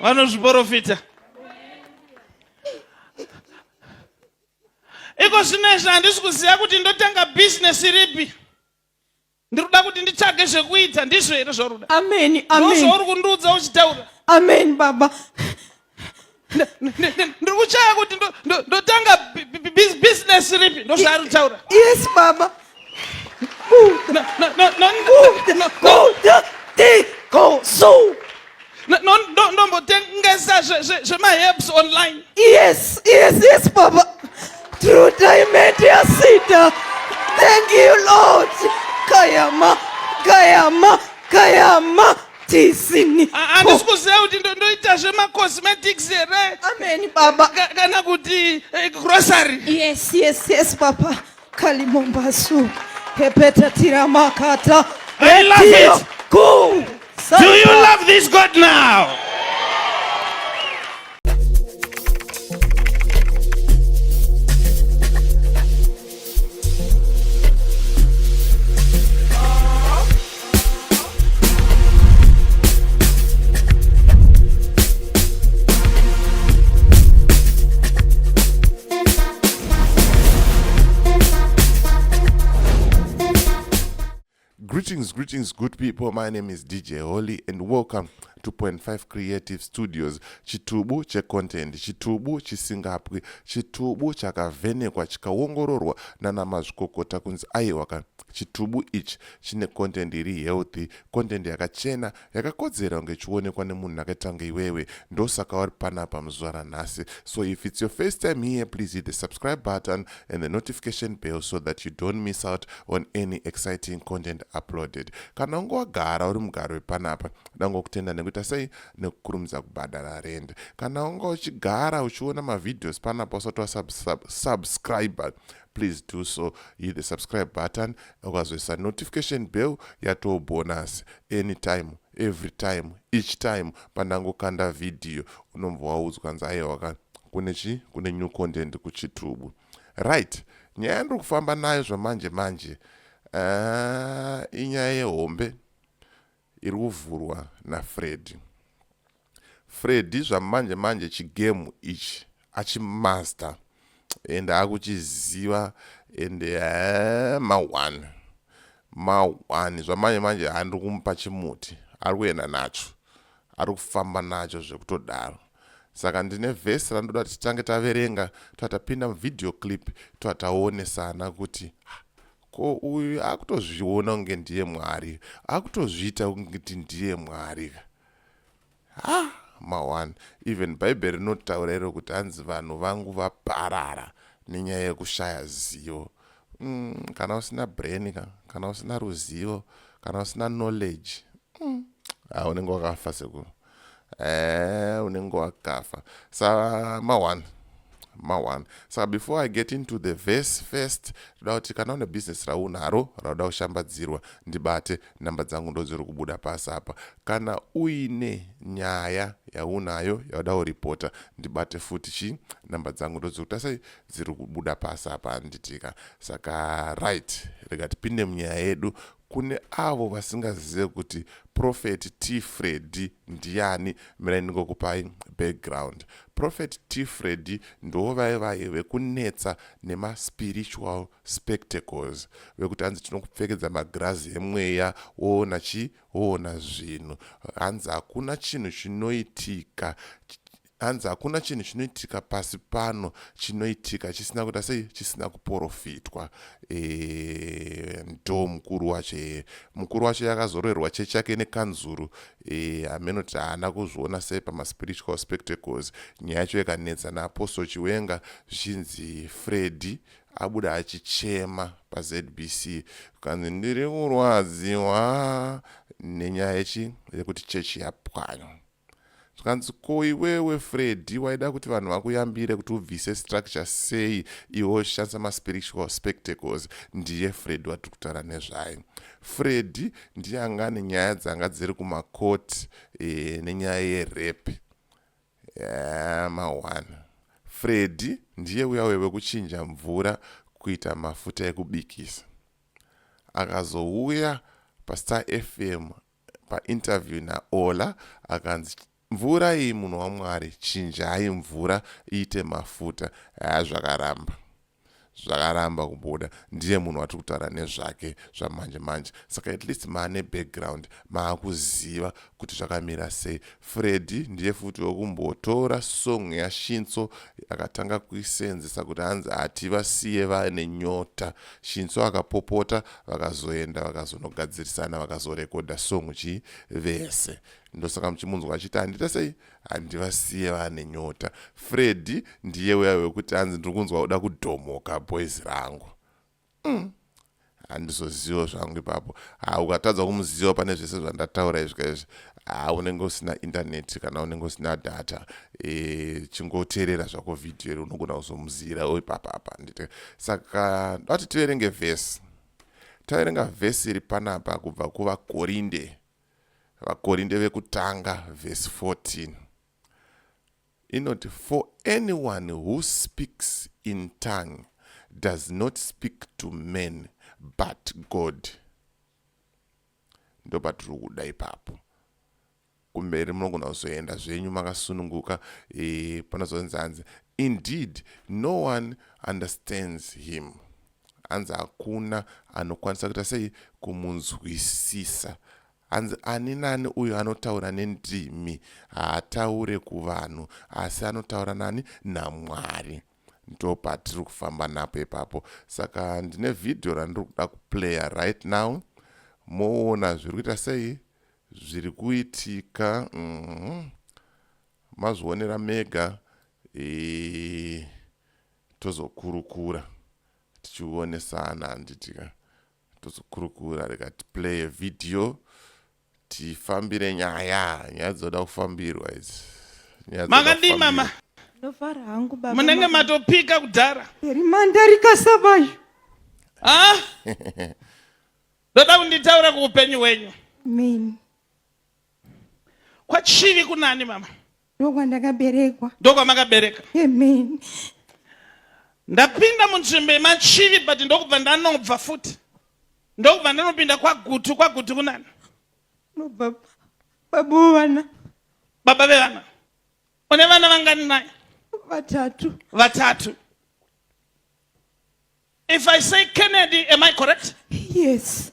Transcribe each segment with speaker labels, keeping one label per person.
Speaker 1: vanozviporofita iko zvino izvi handisi kuziva kuti ndotanga bhizinesi ripi ndiri kuda kuti nditsvage zvekuita ndizvo here zvaruda amen amen zvauri
Speaker 2: kundiudza uchitaura
Speaker 1: amen baba ndiri kuchaya kuti ndotanga bhizinesi ripi ndozvaari kutaura yes baba ndombotengesa zvemaherbs online yes yes
Speaker 2: yes baba true diamond yasita thank you lord kayama kayama kayama tisini handisi kuziva
Speaker 1: kuti ndoita zvemacosmetics here amen baba
Speaker 2: kana kuti
Speaker 1: eh, grocery yes yes yes
Speaker 2: baba kalimombasu hepetatira makata I love
Speaker 1: it. Cool.
Speaker 2: Do you
Speaker 1: love this God now?
Speaker 3: Greetings, greetings, good people. My name is DJ Holy, and welcome to Point Five Creative Studios. Chitubu checontent, chitubu chisingapwi, chitubu chakavhenekwa chikaongororwa nana mazvikokota kunzi aiwaka Chitubu ichi chine content iri healthy, content yakachena yakakodzera kunge ichionekwa nemunhu akaita kunge iwewe. Ndosaka wari panapa muzuva ranhasi. So if it's your first time here, please hit the subscribe button and the notification bell so that you don't miss out on any exciting content uploaded. Kana unge wagara uri mugari wepanapa, ndangokutenda nekuita sei nekukurumidza kubhadhara rent. Kana unge uchigara uchiona mavideos panapa usati wasubscriber, please do so hit the subscribe button ukazoisa notification bell yatoo bonus anytime every time each time pandangokanda vhidhiyo unombva waudzwa nzi aiwaka kune chi kune new content kuchitubu right nyaya yandiri kufamba nayo zvamanje manje ah, inyaya yehombe iri kuvhurwa naFreddy. Freddy zvamanje manje chigemu ichi achimaster and akuchiziva and eh, mahwani mahwani zvamanje manje handiri kumupa chimuti ari kuenda nacho ari kufamba nacho zvekutodaro saka ndine vhesi randoda titange taverenga toatapinda muvideo clip toataonesana kuti ko uyu akutozviona kunge ndiye mwari akutozviita kungeti ndiye mwari ka ha ma1 even bhaibheri rinotaura iro kuti hanzi vanhu vangu vaparara nenyaya yekushaya zivo mm, kana usina brain ka kana usina ruzivo kana usina knowledge mm. ha unenge wakafa sekuru ee eh, unenge wakafa sa ma one ma one saka before i get into the verse first toda kuti kana une business raunaro rauda kushambadzirwa ndibate namba dzangu ndodziri kubuda pasi apa kana uine nyaya yaunayo yauda kuripota ndibate futi chi namba dzangu ndodziri kuta sei dziri kubuda pasi apa anditika saka right rega tipinde munyaya yedu Kune avo vasingazive kuti Prophet T Freddy ndiani, mirai ndingokupai background. Prophet T Freddy ndivo vaye vaye vekunetsa nema spiritual spectacles vekuti hanzi tinokupfekedza magirazi emweya woona chi woona zvinhu hanzi hakuna chinhu chinoitika Hanzi hakuna chinhu chinoitika pasi pano chinoitika chisina kuita sei chisina kuporofitwa e, ndo mukuru wacho e, mukuru wacho yakazororerwa chechi yake nekanzuru e, ameno kuti haana kuzviona sei pamaspiritual spectacles nyaya yacho yakanetsa naapostle chiwenga zvichinzi fredi abuda achichema pazbc kanzi ndiri kurwadziwa nenyaya yechi yekuti chechi yapwanywa zvikanzi ko iwewe freddy waida kuti vanhu vakuyambire kuti ubvise structure sei iwe uchishandisa maspiritual spectacles ndiye freddy watiri kutaura nezvaye freddy ndiye anga ane nyaya dzanga dziri kumakoti e, eh, nenyaya yerepe yeah, eh, mawana freddy ndiye uya weve kuchinja mvura kuita mafuta ekubikisa akazouya pastar fm painterview naola akanzi mvura iyi munhu wamwari chinjai mvura iite mafuta haa zvakaramba zvakaramba kubuda ndiye munhu watiri kutaura nezvake zvamanje manje saka at least maane background maakuziva kuti zvakamira sei Freddy ndiye futi wekumbotora song yaShinso akatanga kuisenzesa kuti hanzi hativasiye vane nyota. Shinso akapopota vakazoenda vakazonogadzirisana vakazorekodha song chii vese. Ndosaka muchimunzwa achiti handita sei handivasiye vane nyota. Freddy ndiye uya wekuti hanzi ndiri kunzwa kuda kudhomoka boys rangu. umm handizoziwo zvangu ipapo ha ukatadza kumuziwa pane zvese zvandataura izvi kaizvi ha unenge usina intaneti kana unenge usina data e, chingoteerera zvako vhidhiyo iri unogona kuzomuziyira o ipapa apa ndite saka ndati tiverenge vhesi taverenga vhesi iri panapa kubva kuvakorinde vakorinde vekutanga vhesi 14 inoti for anyone who speaks in tongue does not speak to men but god ndopatiri kuda ipapo kumberi munogona kuzoenda zvenyu makasununguka e, panozonzi hanzi indeed no one understands him hanzi hakuna anokwanisa kuita sei kumunzwisisa Hanzi ani nani uyo anotaura nendimi haataure kuvanhu asi anotaura nani naMwari. Ndopatiri kufamba napo ipapo. Saka ndine vhidhiyo randiri kuda kuplaya right now moona zviri kuita sei zviri kuitika mm -hmm. mazvionera mega e, tozokurukura tichionesana handitika tozokurukura rega tiplaye video tifambire nyaya nyaya dzoda kufambirwa idzi Nyaya dzoda makadii
Speaker 1: kufambirwa. mama ndofara hangu
Speaker 2: baba munenge maka- matopika
Speaker 1: kudhara peri mandarika
Speaker 2: sabayo Ah?
Speaker 1: ndoda kunditaura kuupenyu hwenyu amen kwachivi kunani mama ndokwandakaberekwa
Speaker 2: ndokwamakabereka
Speaker 1: amen
Speaker 2: ndapinda
Speaker 1: munzvimbo yemachivi but ndokubva ndanobva futi ndokubva ndanopinda kwagutu kwagutu kunani nobva
Speaker 2: baba wevana baba vevana
Speaker 1: une vana vangani naye vatatu vatatu if i say kennedy am i correct yes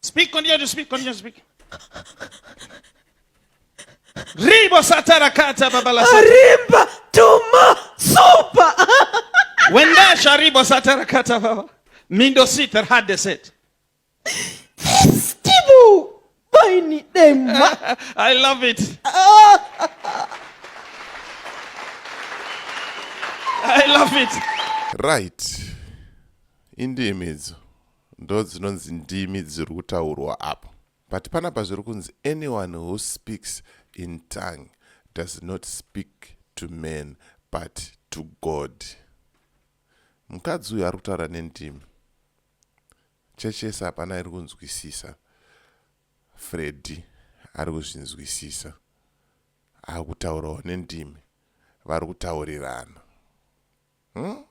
Speaker 1: Speak, continue to speak, continue to speak. Ribo satara kata baba la satara. Rimba
Speaker 2: tuma super.
Speaker 1: Wenda sharibo satara kata baba. Mindo sitar had the set. Festival.
Speaker 2: Baini dema. I love it.
Speaker 1: I love it. Right.
Speaker 3: Indimi idzo. ndodzinonzi ndimi dziri kutaurwa apo but panapa zviri kunzi anyone who speaks in tongue does not speak to man but to god mukadzi uyu ari kutaura nendimi chechi yese hapana iri kunzwisisa fredi ari kuzvinzwisisa akutaurawo nendimi vari kutaurirana hmm?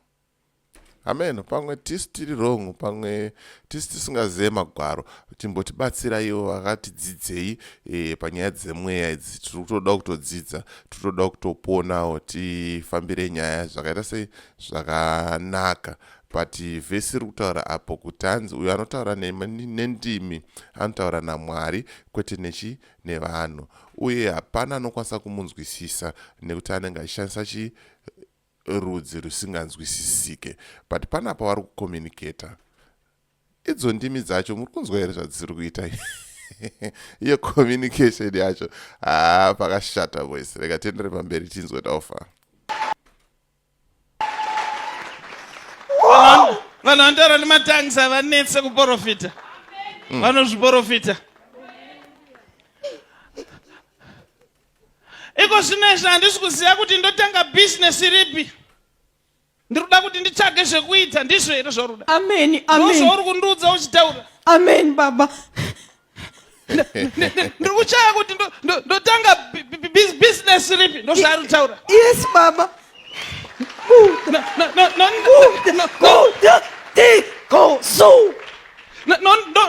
Speaker 3: amen pamwe tisi tiri wrong pamwe tisi tisingazive magwaro chimbotibatsiraiwo vakatidzidzei e, panyaya dzemweya idzi tiri kutoda kutodzidza tiri kutoda kutoponawo tifambire nyaya zvakaita sei zvakanaka but vhesi iri kutaura apo kuti hanzi uyo anotaura nendimi anotaura namwari kwete nechi nevanhu uye hapana anokwanisa kumunzwisisa nekuti anenge achishandisa chi rudzi rusinganzwisisike but pana pavari kucommunicator idzo ndimi dzacho muri kunzwa here zvadziri kuita iyo communication yacho haa ah, pakashata voice rega tiendere pamberi tinzwe taufa
Speaker 1: vanhu vanotaura nematangs havanetse kuprofita mm. vanozviprofita iko zvino izvi handisi kuziva kuti ndotanga bhizinesi ripi ndiri kuda kuti nditsvage zvekuita ndizvo here zvaruda amen amen zvauri
Speaker 2: kundiudza uchitaura
Speaker 1: amen baba ndiri kuchaya kuti ndotanga bhizinesi ripi ndozvaari kutaura yes baba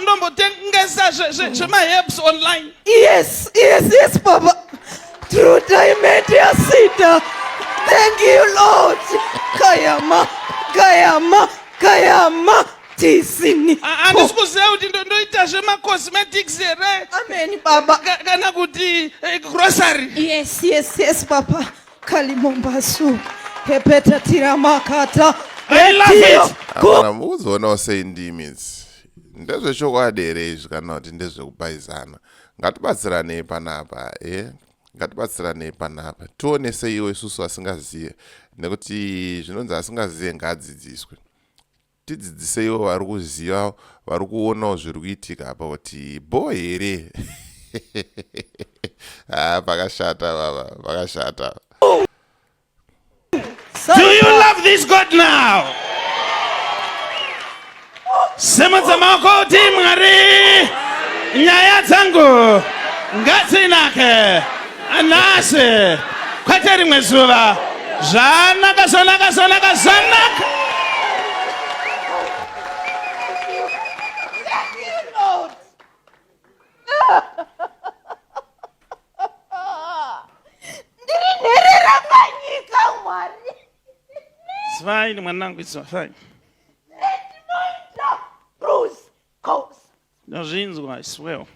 Speaker 1: ndombotengesa zvemaherbs online yes yes
Speaker 2: yes baba true diamond yasita thank you lord kayama kayama kayama tisini handisi kuziva
Speaker 1: kuti ndoita zvemacosmetics here ameni baba
Speaker 2: kana kuti
Speaker 1: eh, grocery yes yes yes
Speaker 2: baba kalimombasu hepeta tiramakata
Speaker 1: hapana mukuzoonawo
Speaker 3: sei ndimi idzi ndezvechokwadi here izvi kana kuti ndezvekupaizana ngatibatsiranei panapa e eh? ngatibatsiranei panapa tione seiwo isusu asingazive nekuti zvinonzi asingazive ngaadzidziswe Tidzidziseiwo vari kuziva vari kuonawo zviri kuitika apa kuti bho here haa ah, pakashata baba pakashata
Speaker 1: Do you love this God now? Semudza maoko kuti Mwari nyaya dzangu ngatsinake. Anase kwete rimwe zuva zvanaka zvanaka zvanaka zvanaka ndiri nherera panyika mwari zvaini mwanangu izvazvaini ndazvinzwa i swear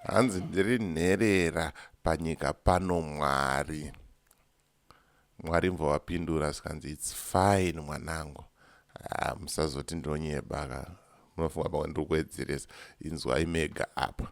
Speaker 1: hanzi
Speaker 3: ndiri nherera panyika pano mwari mwari mvovapindura zvikanzi its fine mwanangu ah, musazoti ndinonyebaka munofunga pamwe ndiri kuedzeresa inzwai mega apa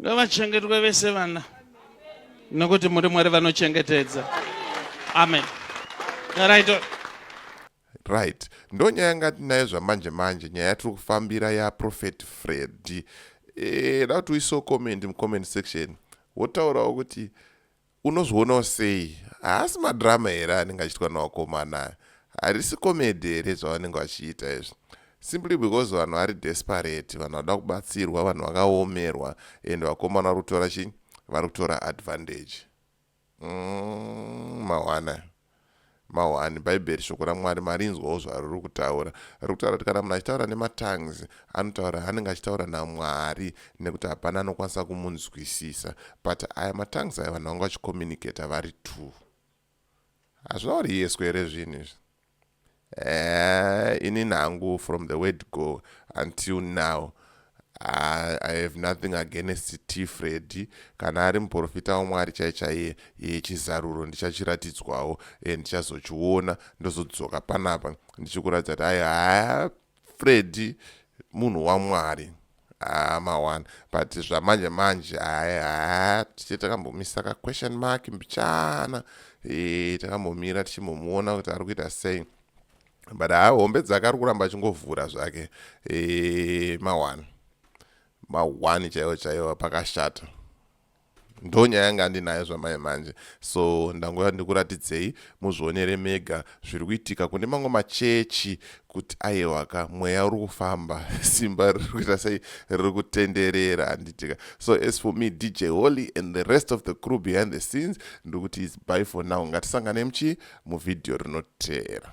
Speaker 1: Ngavachengetwe vese vana nokuti muri Mwari vanochengetedza. Amen. Right.
Speaker 3: Right. Ndonyaya yanga tinayo zvamanje manje nyaya yatiri kufambira ya Prophet Freddy. Eh, da kuti uiso comment mu comment section. Wotaurawo kuti Unozvionawo sei? Haasi madrama here anenge achiitwa nevakomana aya? Harisi comedy here zvavanenge vachiita izvi? Simply because vanhu vari desperate, vanhu vada kubatsirwa, vanhu vakaomerwa and vakomana vari kutora chii? Vari kutora advantage. Mm, mawana. Mahwani, Bhaibheri, Shoko raMwari, marinzwawo zvariri kutaura. Riri kutaura kuti kana munhu achitaura nematongues, anotaura anenge achitaura naMwari nekuti hapana anokwanisa kumunzwisisa. But aya matongues aya vanhu vanga vachicommunicator vari two. Hazvina uri yeswe here zvinhu izvi? Eh, ini nangu from the word go until now I, I have nothing against t fredi kana ari muprofita wamwari chai chaiye iye chizaruro ndichachiratidzwawo e ndichazochiona ndozodzoka panapa ndichikuratidza kuti ayi haya fredi munhu wamwari Ah, mawana but zvamanje manje aya tiche takambomisa ka question mark mbichana e, takambomira tichimbomuona kuti ari kuita sei but haa hombe dzake ari kuramba achingovhura zvake e, mawana mawani chaiwo chaiwo pakashata ndonyaya yanga andinayo zvamai manje so ndangouya ndikuratidzei muzvionere mega zviri kuitika kune mamwe machechi kuti aiwaka mweya uri kufamba simba riri kuita sei riri kutenderera handitika so as for me dj holy and the rest of the crew behind the scenes ndiri kuti is by for now ngatisanganei muchii muvhidhiyo rinoteera